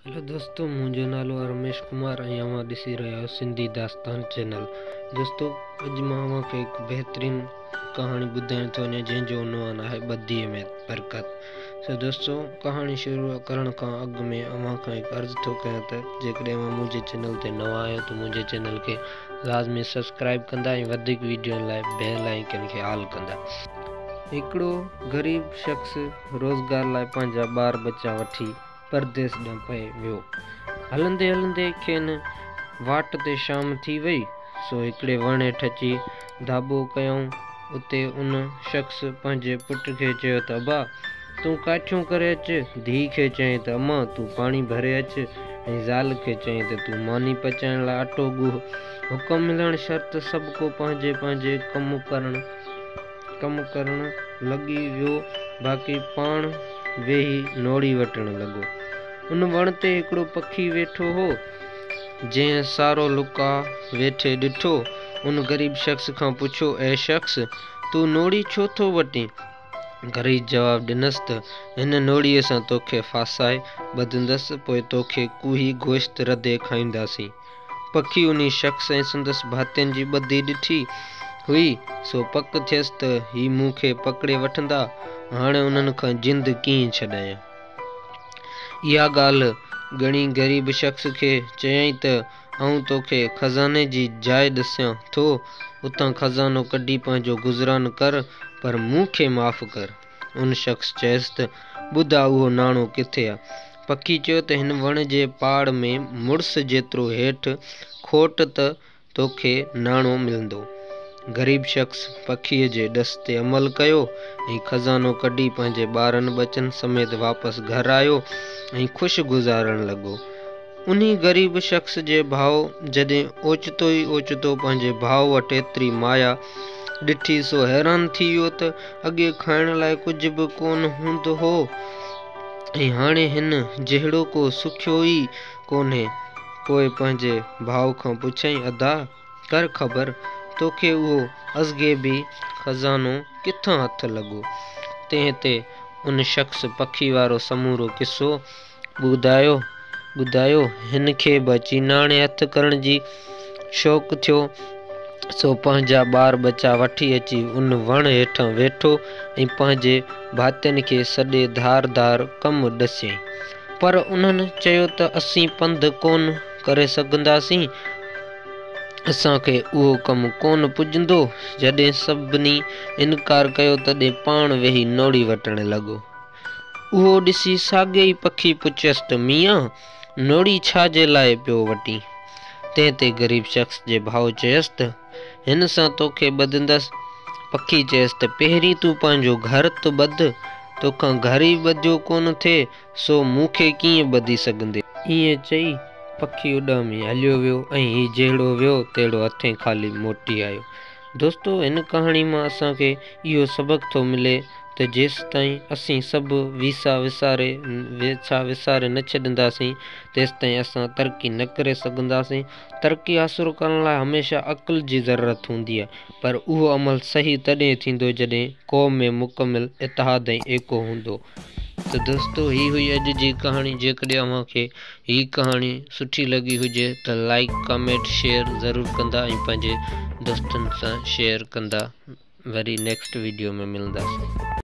Hello دوستو منهنجو نالو آهي رميش ڪمار ۽ اوهان ڏسي رهيا آهيو سنڌي داستان چينل دوستو اڄ مان اوهان کي هڪ بهترين ڪهاڻي ٻڌائڻ ٿو وڃان جنهن جو عنوان آهي ٻڌي ۾ برڪت سو دوستو ڪهاڻي شروع ڪرڻ کان اڳ ۾ اوهان کان هڪ عرض ٿو ڪيان ته جيڪڏهن اوهان منهنجي چينل تي نوان آهيو ته منهنجي چينل کي لازمي سبسڪرائب ڪندا ۽ وڌيڪ ويڊيون لاء بيل آئيڪن کي آل ڪندا هڪڙو غريب شخص روزگار لاء پنهنجا ٻار ٻچا وٺي پرديس ڏانهن پئي ويو. هلندي هلندي کين واٽ تي شام ٿي وئي، سو هڪڙي وڻ هيٺ اچي ڌاٻو ڪيائون. اتي ان شخص پنهنجي پٽ کي چيو ته ابا! تون ڪاٺيون ڪري اچ. ڌيء کي چيائين ته امان! تون پاڻي ڀري اچ ۽ زال کي چيائين ته تون ماني پچائڻ لاء اٽو ڳوهه. حڪم ملڻ شرط سڀڪو پنهنجي پنهنجي ڪم ڪرڻ. ڪم ڪرڻ لڳي ويو باقي پاڻ ويهي نوڙي وٽڻ لڳو. ان وڻ تي هڪڙو پکي ويٺو هو، جنهن سارو لڪا ويٺي ڏٺو. ان غريب شخص کان پڇيو، اي شخص! تون نوڙي ڇو ٿو وٽين؟ غريب جواب ڏنس ته، هن نوڙيء سان توکي ڦاسائي ٻڌندس، پوء توکي ڪوهي گوشت رڌي کائينداسين. پکي انهي شخص ۽ سندس ڀاتين جي ٻڌي ڏٺي هئي، سو پڪ ٿيس ته هي مون کي پڪڙي وٺندا، هاڻي انهن کان جند ڪيئن ڇڏايان؟ اها ڳالهه ڳڻي غريب شخص کي چيائين ته آئون توکي خزاني جي جاء ڏسيان ٿو، اتان خزانو ڪڍي پنهنجو گذران ڪر، پر مون کي معاف ڪر. ان شخص چيس ته، ٻڌ آ اهو ناڻو ڪٿي آ؟ پکي چيو ته هن وڻ جي پاڙ ۾ مڙس جيترو هيٺ کوٽ ته توکي ناڻو ملندو. غريب شخص پکيء جي ڏس تي عمل ڪيو ۽ خزانو ڪڍي پنهنجي ٻارن ٻچن سميت واپس گهر آيو ۽ خوش گذارڻ لڳو. انهي غريب شخص جي ڀاء جڏهن اوچتو ئي اوچتو پنهنجي ڀاء وٽ ايتري مايا ڏٺي سو حيران ٿي ويو ته اڳي کائڻ لاء ڪجهه به ڪونه هوندو هو ۽ هاڻي هن جهڙو ڪو سکيو ئي ڪونهي. پوء پنهنجي ڀاء کان پڇيائين ادا! ڪر خبر توکي اهو ازغيبي خزانو ڪٿان هٿ لڳو؟ تنهن تي ان شخص پکي وارو سمورو قصو ٻڌايو ٻڌايو. هن کي به چيناڻي هٿ ڪرڻ جي شوق ٿيو، سو پنهنجا ٻار ٻچا وٺي اچي ان وڻ هيٺان ويٺو ۽ پنهنجي ڀاتين کي سڏي ڌار ڌار ڪم ڏسيائين. پر انهن چيو ته اسين پنڌ ڪونه ڪري سگهنداسين، اسان کي اهو ڪم ڪونه پڄندو. جڏهن سڀني انڪار ڪيو، تڏهن پاڻ ويهي نوڙي وٽڻ لڳو. اهو ڏسي ساڳيو ئي پکي پڇيس ته ميان! نوڙي ڇا جي لاء پيو وٽين؟ تنهن تي غريب شخص جي ڀاء چيس ته، هن سان توکي ٻڌندس. پکي چيس ته، پهرين تون پنهنجو گهر ته ٻڌ، توکان گهر ئي ٻڌيو ڪونه ٿئي، سو مون کي ڪيئن ٻڌي سگهندين؟ ائين چئي پکي اڏامي هليو ويو ۽ هي جهڙو ويو تهڙو هٿين خالي موٽي آيو. دوستو هن ڪهاڻي مان اسان کي اهو سبق ٿو ملي ته جيستائين اسين سڀ ويسا وساري ويسا وساري نه ڇڏينداسين تيستائين اسان ترقي نه ڪري سگهنداسين ترقي حاصل ڪرڻ لاء هميشه عقل جي ضرورت هوندي آهي پر اهو عمل صحيح تڏهن ٿيندو جڏهن قوم ۾ مڪمل اتحاد ۽ ايڪو هوندو. ته دوستو هي هئي اڄ جي ڪهاڻي جيڪڏهن اوهان کي هي ڪهاڻي سٺي لڳي هجي ته لائيڪ ڪامينٽ شيئر ضرور ڪندا ۽ پنهنجي دوستن سان شيئر ڪندا وري نيڪسٽ ويڊيو ۾ ملنداسين.